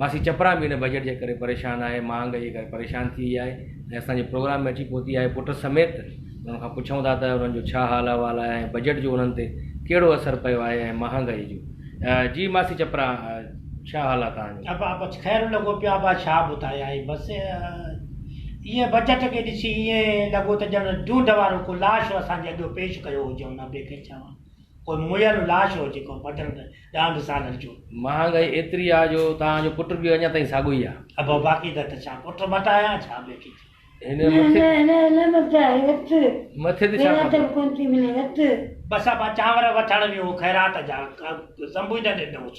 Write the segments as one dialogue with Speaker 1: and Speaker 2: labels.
Speaker 1: ماسي چپرا به ان بجيٽ جي ڪري پريشان آهي، مهانگائي جي ڪري پريشان ٿي وئي آهي ۽ اسان جي پروگرام ۾ اچي پهتي آهي، پٽ سميت انهن کان پڇون ٿا ته انهن جو ڇا حال احوال آهي ۽ بجيٽ جو انهن تي ڪهڙو اثر پيو آهي ۽ مهانگائي جو جي ماسي چپرا ڇا حال آهي توهان جو. ابا بس خير لڳو
Speaker 2: پيو ابا ڇا ٻڌايائين بس ايئن بجيٽ کي ڏسي ايئن لڳو ته ڄڻ ڍونڍ وارو ڪو لاش اسان جي اڳيو پيش ڪيو هجئون ابي کي چوان ڪو مئل لاش هو جيڪو مٽن ڏانهن به سان لڏجو. مهانگائي ايتري
Speaker 1: آ جو توهان جو پٽ به اڃا تائين ساڳو ئي آ. ابا باقي ته ته
Speaker 2: ڇا پٽ مٽايان ڇا ٻيو ڪي ٿيو.
Speaker 1: هن مٿي. مٿي ته ڇا ڪبو.
Speaker 2: بس ابا چانور وٺڻ ويو هو خيرات جا ڪا سنبوئي نه ڏنوس.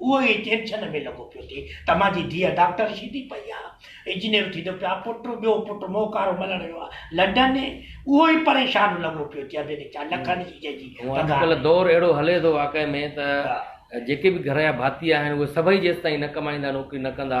Speaker 2: اهو ئي ٽينشن ۾ لڳو پيو ٿئي ته مان جي ڌيء ڊاڪٽر شيدي پئي آ، انجنيئر ٿيندو پيو آ، پٽ ٻيو پٽ موڪارو ملڻ ويو آ لنڊن، اهو ئي پريشان لڳو پيو ٿئي ڀيني ڇا لکن جي جنهنجي هونء اڄ پگهار ڪلهه دور اهڙو
Speaker 1: هلي ٿو واقعي ۾ ته جيڪي به گهر جا ڀاتي آهن اهي سڀئي جيستائين نه ڪمائيندا نوڪري نه ڪندا.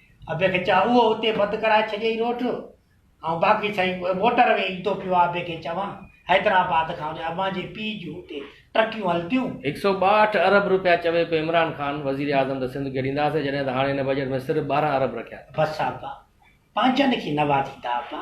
Speaker 2: ابي کي چاء اهو اتي بند ڪرائي ڇڏيئي روڊ جو ۽ باقي سائين موٽر وي ايندو پيو آ ابي کي چوان حيدرآباد کان هن امان جي پيء جون اتي ٽرڪيون هلنديون. هڪ سئو ٻاهٺ ارب
Speaker 1: روپيا چوي پيو عمران خان وزير اعظم ته سنڌ کي ڏينداسين جڏهن ته هاڻي هن بجيٽ ۾ صرف ٻارهن ارب رکيا اٿن. بس ابا
Speaker 2: پنهنجن کي نوازيندا ابا.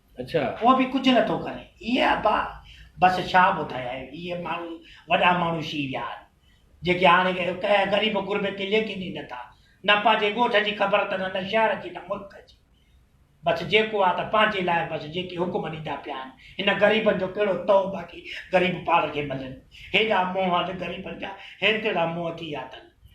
Speaker 2: ڪو به ڪجهه نه
Speaker 1: ٿو
Speaker 2: ڪري. اي ابا بس ڇا ٻڌايان اهي ماڻهو وڏا ماڻهو شي ويا آهن جيڪي هاڻي ڪنهن غريب غربي کي ليکين ئي نٿا نه پنهنجي ڳوٺ جي خبر اٿن نه شهر جي نه ملڪ جي بس جيڪو آهي ته پنهنجي لاء بس جيڪي حڪم ڏيندا پيا آهن هن غريبن جو ڪهڙو تئو باقي غريب پاڻ کي ملن هيڏا منهن اٿ غريبن جا هيترڙا منهن ٿي ويا اٿن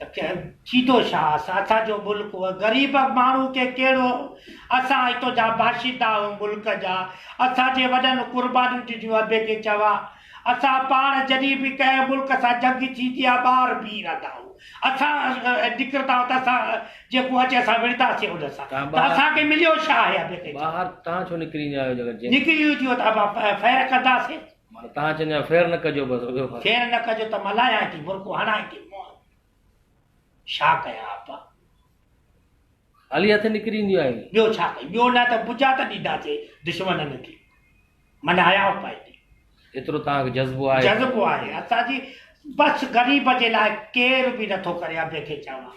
Speaker 2: ته ڪنهن ٿيندو ڇا اسان جو ملڪ هو غريب ماڻهو کي ڪهڙو اسان اتو جا باشندا هون ملڪ جا اسان جي وڏن قربانيون ڏنيون ابي کي چوا اسان پاڻ جڏهن به ڪنهن ملڪ سان جنگ ٿيندي ها ٻاهر بيهي رهندا هون اسان نڪرندا هون ته اسان جيڪو اچي اسان وڙهنداسين ان سان ته اسان کي مليو ڇا آهي ابي کي ٻاهر تان ڇو نڪري
Speaker 1: ايندا آهيو جيڪر نڪري اينديو ته ابا
Speaker 2: فير ڪنداسين. معنيٰ تان چڱا
Speaker 1: فير نه ڪجو بس ٻيو بس. فير نه ڪجو ته
Speaker 2: ملايان ٿي برڪو هڻان ٿي منهن ڇا ڪيان آپا.
Speaker 1: خالي هٿ نڪري اينديون آهن. ٻيو ڇا ڪيان ٻيو نه
Speaker 2: ته بجا ته ڏينداسي دشمنن کي من هياو پائي ٿي. ايترو تان
Speaker 1: کي جذبو آهي. جذبو آهي اسان جي
Speaker 2: بس غريب جي لاء ڪير به نه ٿو ڪري ابي کي چوان.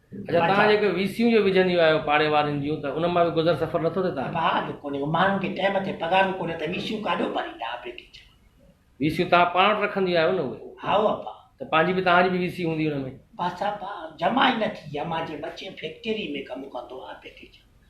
Speaker 2: اچا توهان جيڪي
Speaker 1: ويسيون جو وجهنديون آهيو پاڙي وارين جون ته ان مان به گذر سفر نٿو ٿئي توهان جو؟ ڀاء جو ڪونهي هو ماڻهن
Speaker 2: کي ٽيم تي پگهارون ڪونهي ته ويسيون ڪاڏو ڀريندا آپريٽي چوان. ويسيون توهان
Speaker 1: پاڻ وٽ رکنديون آهيو نه اهي؟ هائو ابا. ته پنهنجي
Speaker 2: به توهان جي به
Speaker 1: ويسي هوندي ان ۾؟ بس ابا جمع
Speaker 2: ئي نه ٿي امان جي ٻچي فيڪٽري ۾ ڪم ڪندو آپريٽي چوان.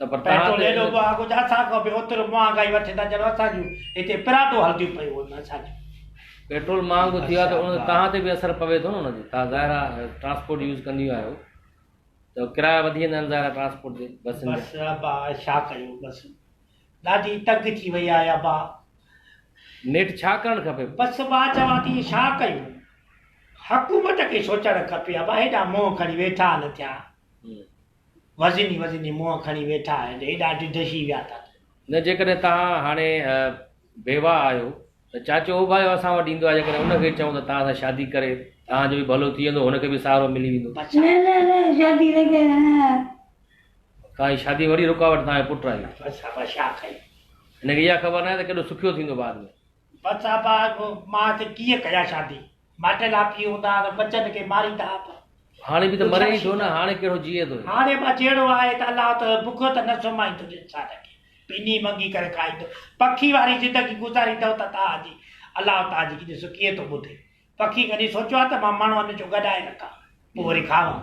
Speaker 2: ته پر توهان
Speaker 1: پيٽرول ايڏو ته مهانگو جو
Speaker 2: اسان
Speaker 1: کان
Speaker 2: به اوترو مهانگائي وٺي ٿا ڄڻ اسان جون هتي پراٽو هلنديون پيون هجن اسان جون. پيٽرول
Speaker 1: مهانگو ٿي ويو آهي ته ان توهان تي به اثر پوي ٿو نه ان جو توهان ظاهر آهي ٽرانسپورٽ يوز ڪنديون آهيو ته ڪرايا وڌي ويندا آهن ظاهر آهي ٽرانسپورٽ جي بسن جا. بس ابا ڇا
Speaker 2: ڪيون بس ڏاڍي تنگ ٿي وئي آهي ابا.
Speaker 1: نيٺ ڇا ڪرڻ کپي؟ بس مان چوان ٿي
Speaker 2: ڇا ڪيون حڪومت کي سوچڻ کپي ابا هيڏا منهن کڻي ويٺا آهن ٿيا وزني وزني منهن کڻي ويٺا آهيو ته ايڏا ڊڌشي ويا ٿا ته. نه جيڪڏهن توهان
Speaker 1: هاڻي بيواهه آهيو ته چاچو اوڀايو اسان وٽ ايندو آهي جيڪڏهن ان کي چئون ته توهان سان شادي ڪري توهان جو به ڀلو ٿي ويندو هن کي به سهارو ملي ويندو. نه نه نه شادي
Speaker 3: نه ڪرڻ.
Speaker 1: توهان جي شادي وڙي رڪاوٽ توهان جو پٽ آهي. بس ها بس ڇا
Speaker 2: ڪيون. هن کي اها خبر
Speaker 1: ناهي ته ڪيڏو سکيو ٿيندو بعد ۾. بس ابا
Speaker 2: مان سي ڪيئن ڪيان شادي ماٽي لاپي هوندا ته بچن کي ماريندا ابا. هاڻي به ته
Speaker 1: مري ئي ٿو نه هاڻي ڪهڙو جيئي ٿو. هاڻي ابا جهڙو آهي
Speaker 2: ته الله ته بک ته نه سمائيندو انسان کي پني منگي ڪري کائيندو پکي واري زندگي گذاريندؤ ته تان جي الله تان جي ڏسو ڪيئن ٿو ٻڌي پکي ڪڏهن سوچيو آهي ته مان ماڻهن جو گڏائي رکان پوء وري کاوان.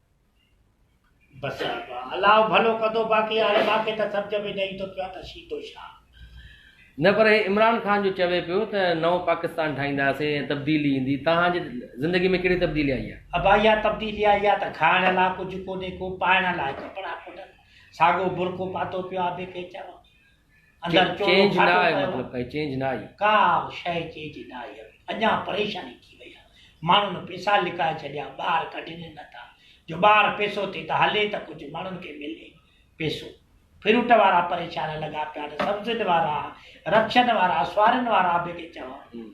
Speaker 1: بس
Speaker 2: ابا الله ڀلو ڪندو باقي هاڻي ماکي ته سمجهه ۾ نه ايندو پيو ته شيتو ڇا. نه
Speaker 1: پر هي عمران خان جو چوي پيو ته نئون پاڪستان ٺاهينداسين ۽ تبديلي ايندي توهان جي زندگي ۾ ڪهڙي تبديلي آئي آهي؟ ابا اها تبديلي آئي
Speaker 2: آهي ته کائڻ لاء ڪجهه ڪونهي ڪو پائڻ لاء ڪپڙا ڪونهن ساڳو برقعو پاتو پيو آهي به ڪي چوان اندر
Speaker 1: چورو گهاٽو
Speaker 2: ڪيو.
Speaker 1: ڪا به شيء
Speaker 2: چيج نه آئي هئي. اڃا پريشاني ٿي وئي ها. ماڻهن پيسا لڪائي ڇڏيا، ٻار ڪڍين نه ٿا. جو ٻار پيسو ٿي ته هلي ته ڪجهه ماڻهن کي ملي پيسو. فروٽ وارا پريشان لڳا پيا آهن، سبزين وارا، رڪشن وارا، سوارين وارا به ڪي چوان.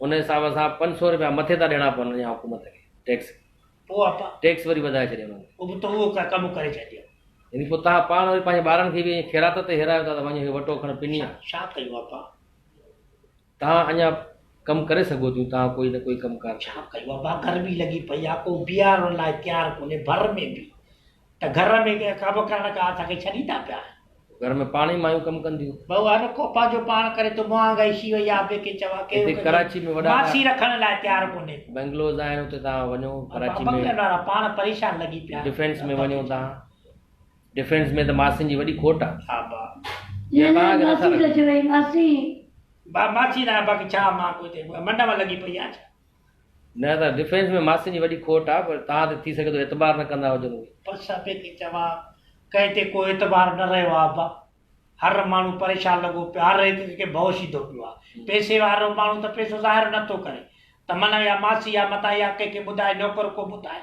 Speaker 1: ان حساب سان پنج سؤ رپيا مٿي ٿا ڏيڻا پون اڃا حڪومت کي ٽيڪس پوء اپا
Speaker 2: ٽيڪس وري وڌائي ڇڏيو
Speaker 1: انهن پوء به تو اهو ڪم
Speaker 2: ڪري ڇڏيو يعني پوء تهان
Speaker 1: پاڻ وري پنهنجي ٻارن کي به ائين خيرات تي هيرايو ٿا ته وڃ هي وٽو کڻ پني ڇا ڇا ڪيون اپا تهان اڃا ڪم ڪري سگهو ٿيون تهان ڪوئي نه ڪوئي ڪم ڪار ڇا ڪيون اپا
Speaker 2: گرمي لڳي پئي آهي ڪو بيهارڻ لاء تيار ڪونهي ڀر ۾ به ته گهر ۾ ڪنهن ڪابه ڪرڻ ڪا اسان کي ڇڏيندا پيا. گهر ۾ پاڻ ئي
Speaker 1: مايون ڪم ڪنديون. بهو هر ڪو پنهنجو
Speaker 2: پاڻ ڪري ته مهانگ ئي شي وئي آ به ڪي چوا ڪي هتي ڪراچي ۾ وڏا
Speaker 1: ماسي رکڻ لاء تيار
Speaker 2: ڪونهي. بنگلوز آهن اتي
Speaker 1: توهان وڃو ڪراچي ۾ بنگلن وارا پاڻ پريشان
Speaker 2: لڳي پيا آهن. ڊفينس ۾ وڃو توهان
Speaker 1: ڊفينس ۾ ته ماسين جي وڏي کوٽ آ. ها با.
Speaker 2: يا توهان کي
Speaker 3: نٿا رکن. ماسي. با ماسي
Speaker 2: نه آهي باقي ڇا مان ڪوئي تي منڊ مان لڳي پئي آهيان ڇا. نه ته
Speaker 1: ڊفينس ۾ ماسين جي وڏي کوٽ آ پر توهان تي ٿي سگهي ٿو اعتبار نه ڪندا هجن اهي. پر ڇا پئي ٿي
Speaker 2: چوان ڪنهن تي ڪو اعتبار نه رهيو آ ابا هر ماڻهو پريشان لڳو پيو آ هر هڪ کي ڀؤ شيدو پيو آ پئسي وارو ماڻهو ته پئسو ظاهر نه ٿو ڪري تمنا يا ماسي يا متان يا ڪنهن کي ٻڌائي نوڪر ڪو ٻڌائي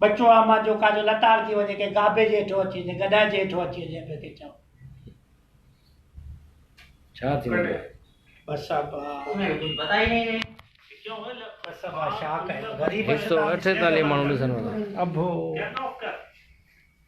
Speaker 2: ٻچو آ مان جو ڪاجو لتاڙ ٿي وڃي ڪنهن گابي جي هيٺو اچي وڃي گڏهه جي هيٺو اچي وڃي پيو کي چئو
Speaker 1: ڇا ٿي وڃي بس
Speaker 2: اب غريب هڪ سؤ اٺيتاليهه ماڻهو
Speaker 1: ڏسن وارا ابو